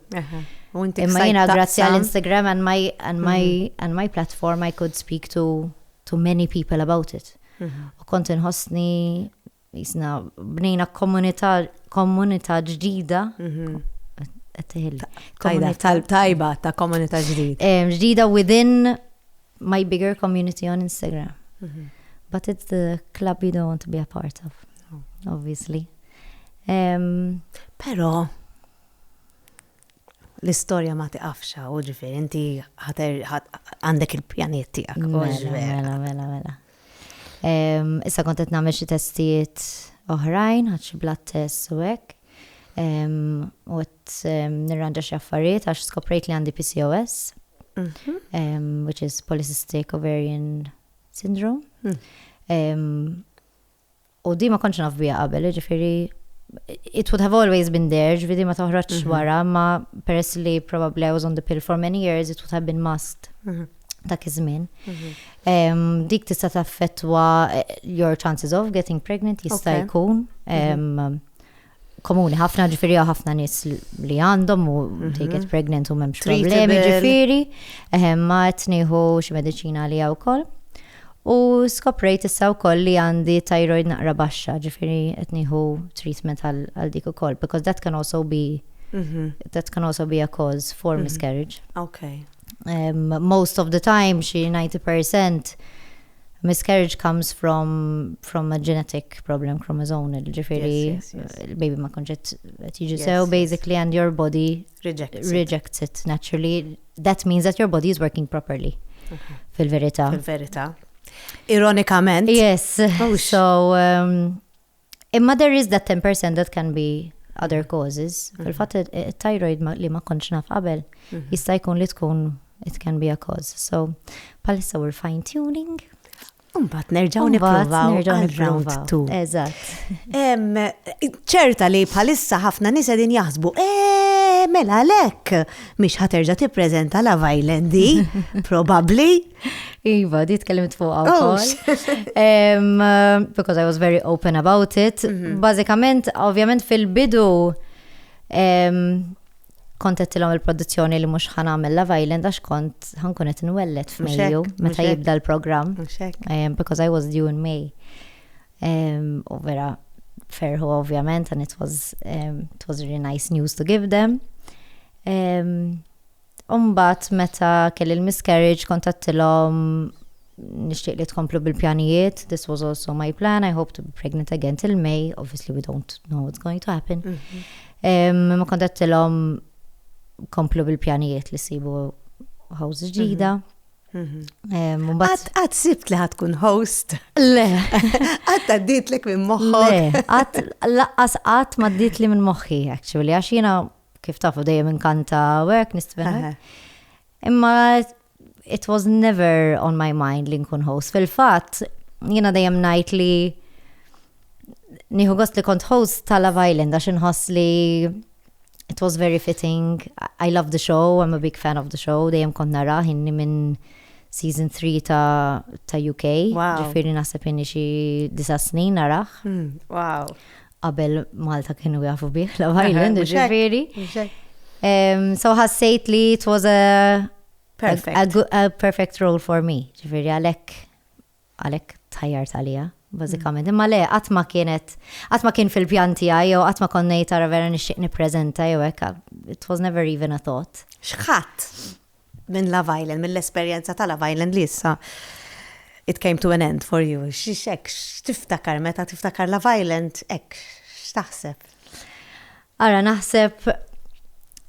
Imma jiena grazzi għal Instagram and my and my and my platform I could speak to to many people about it. U kont inħossni Jisna, bnejna komunità ġdida. Mhm. Tajda, tajba ta' komunità ġdida. Eh, ġdida within my bigger community on Instagram. Mhm. But it's the club you don't want to be a part of, oh. obviously. Um, Pero, l-istoria ma tiqafxa, u ġifir, inti għandek il-pjaniet tijak. Mela, mela, mela, mela. Issa kont qed nagħmel xi testijiet oħrajn, ħadd xi blood tests u hekk. U qed nirranġa xi affarijiet għax skoprejt li għandi PCOS, mhm. which is Polycystic Ovarian Syndrome. Hmm. U di ma kontx naf bija qabel, jiġifieri it would have always been there, ġvidi ma toħroġ mhm. wara, ma peress li probably I was on the pill for many years, it would have been must mhm. ta' kizmin. Mhm. Dik tista' taffettwa eh, your chances of getting pregnant jista' jkun. komuni ħafna ġifiri għaw ħafna nis li għandhom u mhm. they get pregnant u memx problemi ġifiri. Eħem ma etniħu xie medicina li għaw kol. U skoprejt issa u koll li għandi thyroid naqra baxxa ġifiri etniħu treatment għal dik u koll because that can also be mhm. that can also be a cause for mhm. miscarriage. Okay. Um, most of the time, xi 90% Miscarriage comes from, from a genetic problem chromosome, ġifiri, il-baby ma konġet tiġi sew, basically, and your body rejects, rejects it. it naturally. That means that your body is working properly. Mhm. Fil-verita. Fil-verita. Ironikament. Yes. Oh, so, um, Imma there is that 10% that can be other mm. causes. Mm. Fil-fatt it-thyroid li ma kontx naf qabel mm-hmm. jista' jkun li tkun it can be a cause. So palissa we're fine tuning. Umbat nerġaw niprovaw round two. Eżatt. ċerta li bħalissa ħafna nisa din jaħsbu, eh, mela lek, mish ħaterġa tippreżenta la Island di, probabli. Iva, di tkellimt fuq oh, um, Because I was very open about it. Mm -hmm. Bażikament, ovvjament fil-bidu um, kontettilhom il-produzzjoni li mhux ħan għamel Love Island għax kont ħankun qed nwellet f'Mejju meta jibda l-programm. Um, because I was due in May. Um, u vera ferħu ovvjament and it was, um, it was really nice news to give them. Um, Umbat meta kelli l-miscarriage kont għattilom nixtieq li tkomplu bil-pjanijiet, this was also my plan, I hope to be pregnant again till May, obviously we don't know what's going to happen. Mhm. Ma kont għattilom komplu bil-pjanijiet li sibu house ġdida. Mhm. Mhm. Għat sibt li ħatkun host. Le. Għat għaddit li minn moħħok. Le, għat laqqas għat ma għaddit li minn moħħi, actually, għax jina kif tafu dejjem inkanta work nistven. Imma it was never on my mind li nkun host. Fil-fatt, jiena dejjem ngħid li nieħu gost li kont host ta' Love Island għax inħoss li it was very fitting. I love the show, I'm a big fan of the show, dejjem kont nara inni minn season 3 ta', ta UK. Wow. Ġifiri naħseb inni xi disa snin naraħ. Hmm, wow. Qabel Malta kienu jafu bih Love Island, ġifieri. So ħassejt li it was a perfect, a, good, a perfect role for me, ġifieri għalhekk għalhekk tajjar talija, bażikament. Imma le, qatt ma kienet, qatt ma kien fil-pjan tiegħi jew qatt ma konnejt tara vera nixtieq nippreżenta jew hekk, it was never even a thought. X'ħadd? minn Love Island, mill-esperjenza ta' Love Island li issa it came to an end for you. X'hekk, x'tiftakar meta tiftakar Love Island, hekk, x'taħseb? Ara naħseb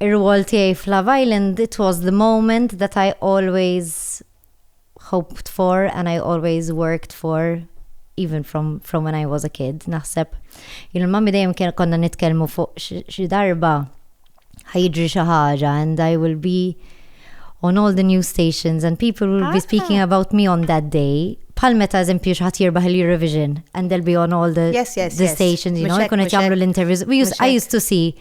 ir-rwol tiegħi f'Love Island, it was the moment that I always hoped for and I always worked for even from, from when I was a kid. Naħseb, jillu mami dejjem kien konna nitkellmu fuq xi darba ħajġri xi ħaġa and I will be on all the news stations and people will be speaking ah. about me on that day. Pal meta eżempju xħat jirbaħ il-Eurovision and they'll be on all the, yes, yes, the yes. stations, you know, jkun qed jagħmlu l-interviews. I used to see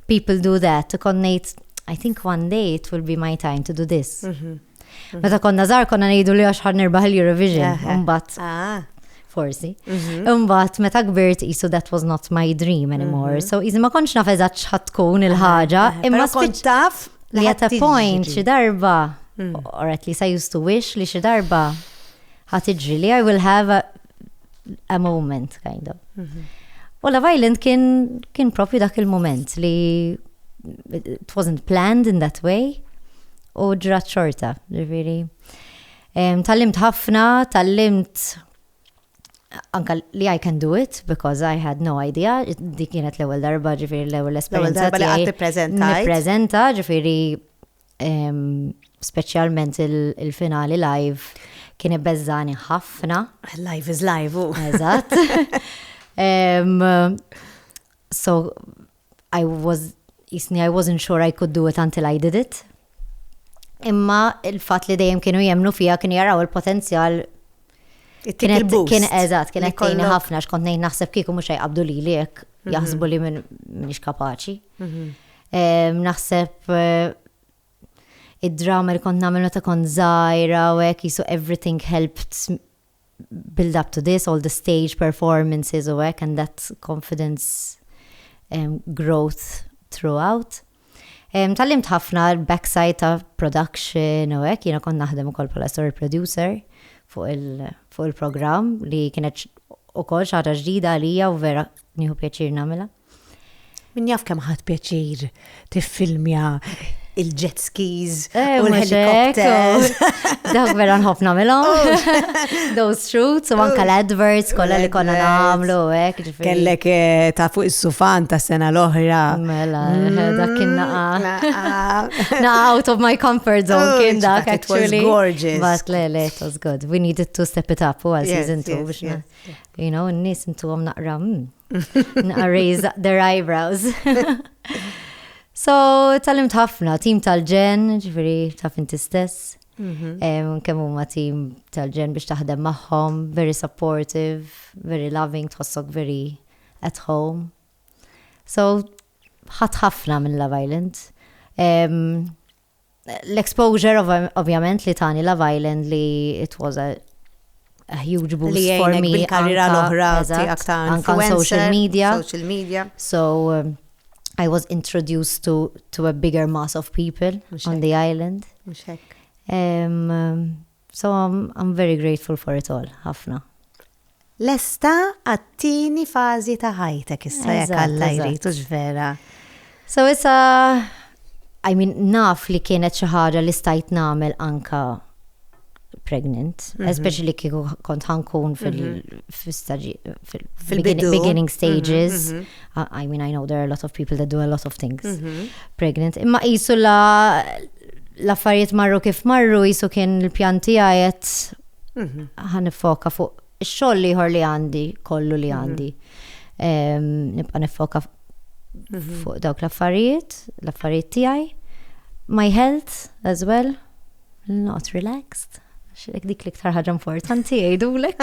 people do that, konnejt I think one day it will be my time to do this. Mm -hmm. Meta konna żgħar konna ngħidu li għax ħar nirbaħ il-Eurovision, imbagħad. Ah. Forsi. Mhm. Imbagħad meta kbirt isu that was not my dream anymore. Mhm. So iżi ma kontx naf eżatt x'ħadd tkun il-ħaġa, imma kont taf li at a point xi darba mm. or at least I used to wish li xi darba ħadd iġri li I will have a, a moment kind of. Mhm. U la Island kien kien propju dak il-moment li it wasn't planned in that way. u ġrat xorta, ġifiri. Tallimt ħafna, tallimt anka li I can do it because I had no idea di kienet l-ewwel darba ġifiri l-ewwel esperjenza. L-ewwel darba li prezenta. Prezenta ġifiri speċjalment il-finali live kien ibbeżżani ħafna. Live is live. Eżatt. So I was, jisni I wasn't sure I could do it until I did it. Imma il-fat li dejjem kienu jemnu fija kienu jaraw il-potenzjal Kienet kien eżat, kienet tejni ħafna xkont nejn naħseb kieku mux jgħabdu li li jek mhm. jaħsbu li minn minix kapaċi. Mhm. Naħseb eh, id-drama li kont namilna ta' kont zaħira u jek jisu everything helped build up to this, all the stage performances u hekk and that confidence um, growth throughout. Um, Tallimt ħafna backside ta' production u hekk, jiena kont naħdem ukoll bħala story producer fuq il-programm il li kienet ukoll xaħġa ġdida għalija u vera nieħu pjaċir nagħmilha. Min jaf kemm ħadd pjaċir tiffilmja il-jet skis eh, u l-helikopters. Dawk vera nħobb nagħmilhom. Oh. Those shoots u anke oh. l-adverts kollha li konna nagħmlu hekk. Kellek eh, ta' fuq is-sufan ta' sena l-oħra. Mela, eh, mm, dak kien naqa. Na out of my comfort zone oh, kien dak actually. It was gorgeous. But le, le, it was good. We needed to step it up u għal season 2 biex You know, n-nis intuhom naqra hmm, naqra raise their eyebrows. So, tal-imt ħafna, tim tal-ġen, ġifiri, taf inti stess. Mhm. Kemm huma tim tal-ġen biex taħdem magħhom, very supportive, very loving, tħossok very at home. So, ħat ħafna minn Love Island. L-exposure ovvjament li tani Love Island li it was a a huge boost li for me. Li karriera l-oħra tiegħek ta' anka social media. Social media. So um, I was introduced to, to a bigger mass of people on the island. Um, So I'm very grateful for it all, ħafna. Lesta għat-tieni fażi ta' ħajtek issa jekk Alla jrid hux vera. So issa I mean naf li kienet xi ħaġa li stajt nagħmel anka pregnant, mm -hmm. especially kieku kont ħankun fil-beginning mhm. mm -hmm. stages. Mm -hmm. I mean, I know there are a lot of people that do a lot of things mm -hmm. pregnant. Imma jisu la l-affarijiet marru kif marru jisu kien l-pjanti għajet mhm. ħan foka fuq xoll liħor li għandi, kollu li mhm. għandi. Nibqa nifoka mhm. fuq dawk l-affarijiet, l-affarijiet tijaj. My health as well. Not relaxed. Xilek dik l-iktar ħaġa importanti jgħidulek.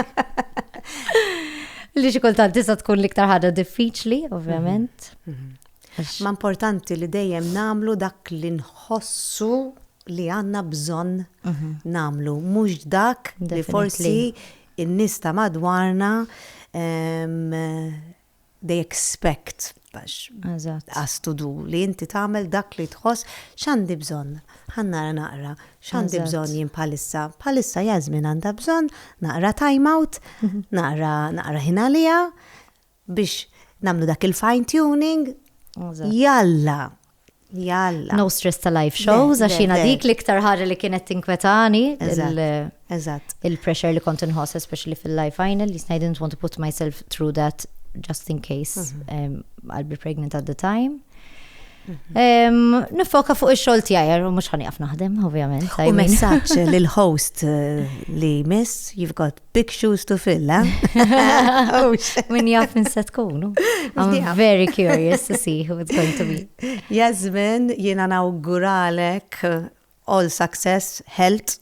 Li xi kultant tista' tkun l-iktar ħaġa diffiċli, ovvjament. Mhm, mhm. Ma importanti li dejjem namlu dak li nħossu li għanna bżon mhm. namlu. Mux dak li forsi in-nista madwarna they expect us to do li inti tagħmel dak li tħoss x'għandi bżonn. Ħannara naqra x'għandi bżonn jien bħalissa. Bħalissa jażmin għandha bżonn naqra time out, mhm. naqra naqra ħin għaliha biex nagħmlu dak il-fine tuning. Jalla, Jalla. No stress ta' live shows, għax jina dik l-iktar ħarri li kienet tinkwetani. Eżatt. Il-pressure li kont inħoss, especially fil-live final, jisna I didn't want to put myself through that just in case mhm. I'll be pregnant at the time. Mhm. Nifoka fuq il-xol tijajer, u mux ħani għaf naħdem, ovvijament. U messaċ l-host eh, li miss, you've got Big shoes to fill, eh? Min jaf minn se tkunu. I'm very curious to see who it's going to be. Jasmin, jiena nawguralek all success, health,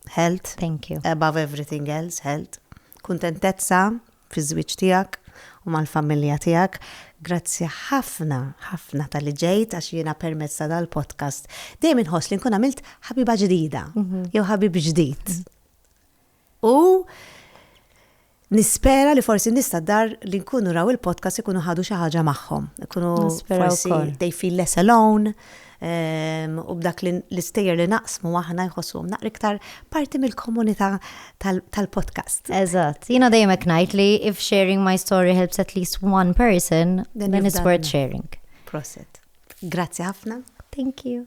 health. Thank you. Above everything else, health. Kuntentezza fi żwieġ tiegħek u mal-familja tiegħek. Grazzi ħafna, ħafna tal-li ġejt għax jiena permezz ta' dal-podcast. Dejjem inħoss li nkun għamilt ħabiba ġdida, mhm. jew ħabib ġdid. Mhm. U nispera li forsi nista dar li nkunu raw il-podcast ikunu ħadu xi ħaġa magħhom. Ikunu forsi they feel less alone ehm, u b'dak l-istejjer li naqsmu aħna jħossu naqra iktar parti mill-komunità tal-podcast. Eżatt. Jiena dejjem hekk ngħid li if sharing my story helps at least one person, then, then it's worth sharing. Proset. Grazzi ħafna. Thank you.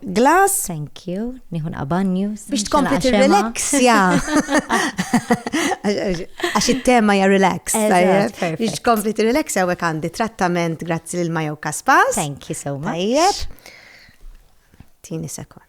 glass. Thank you, nieħu naqabanju. Biex tkompli tirrelaxja. Għax it-tema ja relax. Biex tkompli tirrelaxja u għandi trattament grazzi lil Majo Kaspas. Thank you so much. Tajjeb. Tini sekund.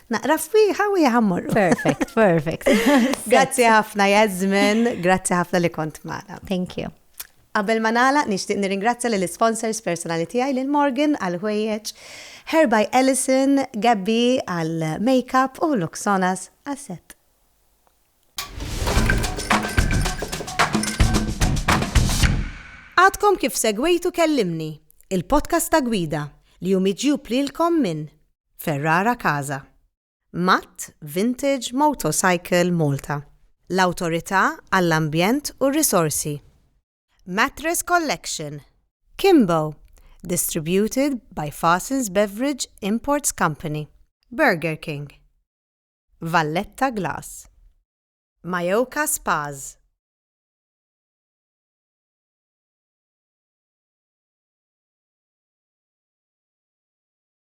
Naqra fwieħa u jħammorru. Perfect, perfect. grazzi ħafna Jasmine, grazzi ħafna li kont maħna. Thank you. Qabel ma nagħlaq nixtieq nirringrazzja lill sponsors personali tiegħi lil Morgan għal ħwejjeġ, Herby Ellison, Gabby għal makeup u Luxonas għal set. Għadkom kif segwejtu kellimni, il-podcast ta' gwida li jumiġju plilkom minn Ferrara Casa, Matt Vintage Motorcycle Malta, l-Awtorità għall-Ambjent u r-Risorsi, Mattress Collection, Kimbo, distributed by Fassins Beverage Imports Company, Burger King, Valletta Glass, Mayoka Spas,